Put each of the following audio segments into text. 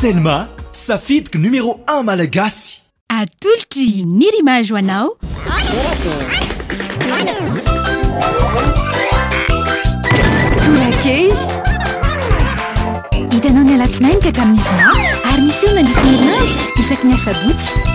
Telma, safidiko numéro un malagasy. Atolotry ny rimage ho anao. Torakely. Hitanao ny alatsinainy ka hatramin'ny zoma ary miseho mandritra ny herinandro isaky ny asabotsy.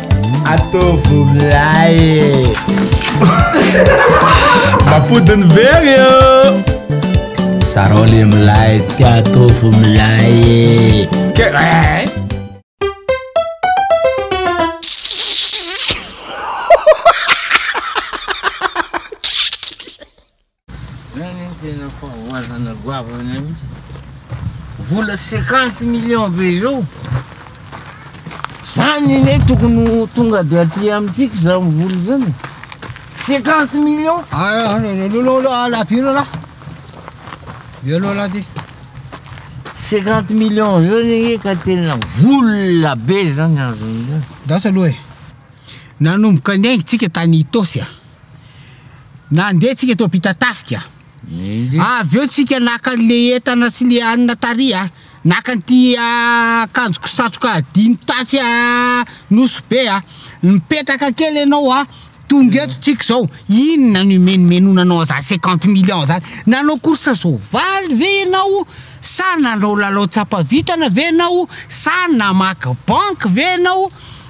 Ataovy milay Mampody ny very eo Zarao le milay Ty ataovy milay Ke eh. Zany no tena fahavoazana goavana mihitsy. Vola 50 millions be izao. Zany anie tokony ho tonga dia aty amintsika izany vola izany. 50 millions. Ah, ah, ah, ah, laty ilo lahy. Ilo laty. 50 millions zany anie ka tena vola be zany azon'izany. Dasa aloha e. Nanomboka ny aintsika tany Itosy a. Nandeha tsika teo Ampitatafika. Avy eo tsika naka an'le entana sy le hanina tary a. Naka an'ity akanjoko satroka dimy tasy a Nosy be a. Mipetraka kely ianao a. Tonga eto tsika zao. Inona no imenomenona anao zany cinquante millions zany. Nanao course soavaly ve ianao sa nanao lalao tsapa vintana ve ianao sa namaky banky ve ianao.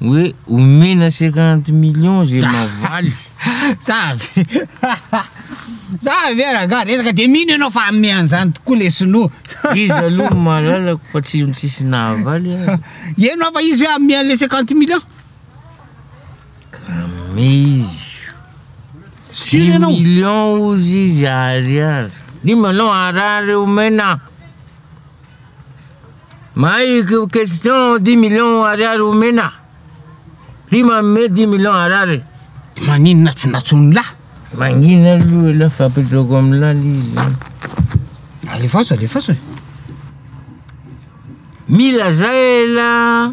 Hoe omena cinquante millions ze mavaly. Za avy Za avy e rangah resaka de mino enao fa ame anzany tokoa le sinoa. Izy aloha no malalako fa tsy izy tsisy nahavaly aza. Eno aho fa izy hoe ame anle cinquante millions. Ka ame izy. Six millions ozy izy ariary. Dimy anao ariary omena. Mahay question dix millions ariary omena Ty manome dix millions ariary Maninona tsy natsoin'ny lahy Mangina aloha elah fa apetrako amin'ny lala izy Alefaso alefaso e Mila zay elah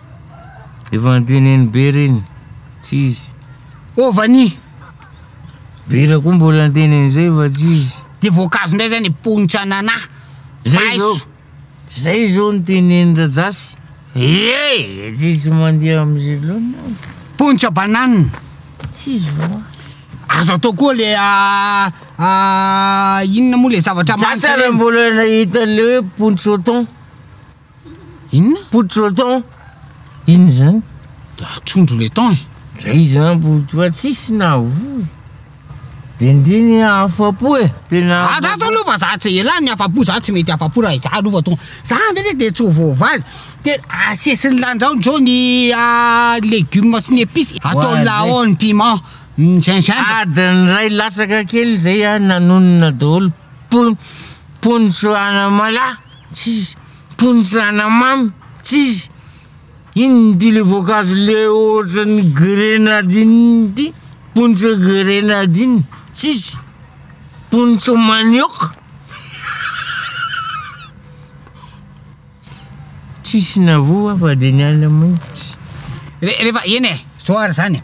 Efa antenen'i Be reny, tsy izy. Ô Vania! Vera koa mbola anteny an'izay fa tsy izy. Dia voankazo indray izay ny ponitra anana, paiso. Izay izao no teneni-dRajasy. Ee! Tsy izy mandeha amin'izay loatra aho. Ponitra banane. Tsy izy va? Azo atao koa le a a inona moa le zavatra mamy. Sasany mbola nahita an'ilay hoe pontsôton. Inona? Poudre le thon. Inona izany? Trondro le thon e. Zay izany poudre fa tsisy nahavoa. Dindiny afa-po e. Tena afa-po. Za zao aloha za tsy elah ny afa-po za tsy mety afa-po raha izaho aloha tonga. Za ndray dia tsy ho voavaly. Dia asesiny lanjaony zao ny légumes sy ny épices. Atao laon piment. Gingembre. Adiny iray latsaka kely zay an nanonona daholo. Pon- ponitro anamalaho. Tsis, mponjy rana mamy, tsis, inona ity le voankazo le ohatran'ny grenadine ity, pontsy grenadine, tsis, pontsy manioka, tsisy na voa afa de ny ala maitso. Re, rehefa eny e, zao ary zany e,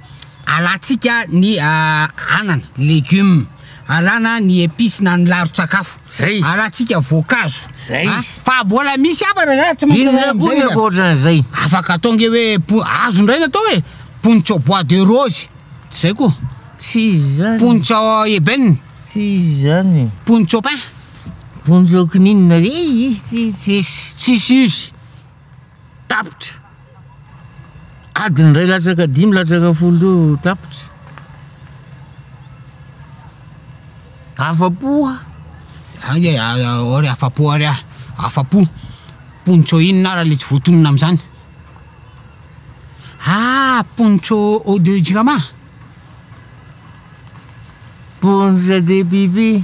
alantsika ny anana, legumes, Alana ny epice na ny laron-tsakafo. Zay izy. Alantsika voankazo. Zay izy. A, fa mbola misy hafa raha zany tsy maintsy Inona alana koa amizay ny izy. ankoatran'izay? Afaka atao nge hoe po- azo indray ny atao e, pontsao bois de rose, tsy zay koa, Tsy izy zany. pontsao ebène, Tsy izy zany. pontsao pin, Vonjy okininona. Izy tsy tsisy. tsisy izy. Tapitra! Adiny iray latsaka dimy latsaka folo teo tapitra. Afa-po aho. Ay, ay, ary afa-po ary aho. Afa-po. Poncho inona ary ilay tsy voatonona amin'izany? Ah, poncho eau de jirama? Poncho de pipi.